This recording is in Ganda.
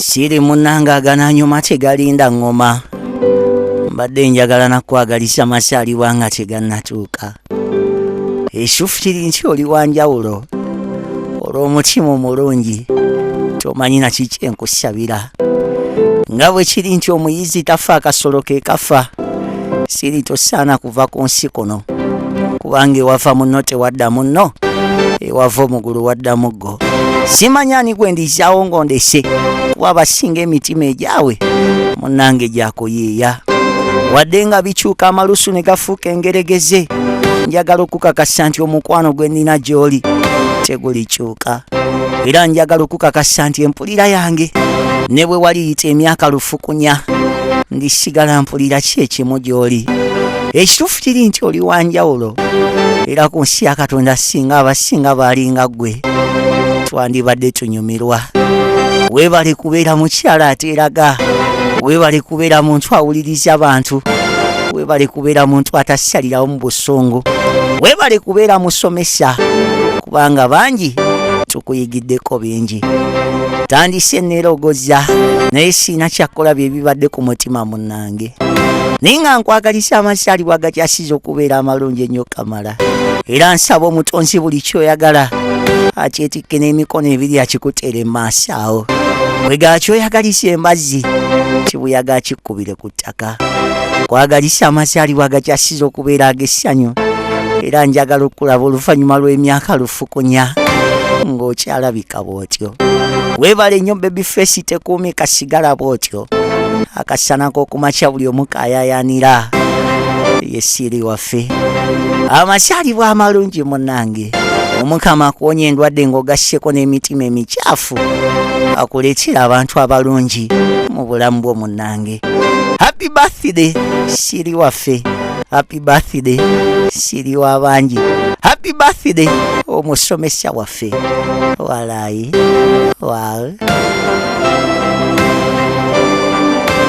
siri munanga agananyuma tegalinda ŋŋoma mbadde njagala nakwagaliza masaalibwa nga tegannatuuka esufutiri nti oli wa njawulo olw'omutima omulungi tomanyi naki kyenkusabira nga bwe kiri nti omuyizi tafa akasolo ke kafa siri tosaana kuva ku nsi kuno kubanga ewava munno tewadda munno ewava omugulu wadda muggo simanya ani gwe ndizaawo ng'ondese kuba abasinga emitima egyawe munnange gyakuyiiya wadde nga bikyuka amalusu ne gafuuka engeregeze njagala okukakasa nti omukwano gwe nnina gy'oli tegulikyuka era njagala okukakasa nti mpulira yange ne bwe waliyita emyaka lufukunya ndisigala mpulira ki ekimu gy'oli ekituufu kiri nti oli wa njawulo era ku nsi ya katonda singa abasinga baalinga ggwe twandibadde tunyumirwa weebale kubeera mukyala ateeraga weebale kubeera muntu awuliriza abantu weebale kubeera muntu atasalirawo mu busungu weebale kubeera musomesa kubanga bangi kuyigiddeko bingi tandise nerogoza naye siina kyakola byebibadde ku mutima munange naye nga nkwagalisa amasaalibwa agakyasiza okubeera amalungi ennyo kamala era nsaba omutonzi buli kyoyagala akyetikke n'emikono ebiri akikuteere maaso awo wegakyoyagalisa embazzi kibuyaga akikkubire ku ttaka nkwagaliza amazaalibwa agakyasiza okubeera ag'essanyu era njagala okukulaba oluvannyuma lw'emyaka lufukunya ng'okyalabika bw'otyo weebale nnyo bebi feesi tekuumi kasigala bw'otyo akasana k'okumakya buli omu kayayanira yesiiri waffe amazaalibwa amalungi munange omukama akuwonya endwadde ng'ogasseko n'emitima emikyafu akuleetera abantu abalungi mu bulamu bw'omu nange happy birthday shiri waffe happy birthday shiri wabangi happy birthday omusomesa waffe walayi wal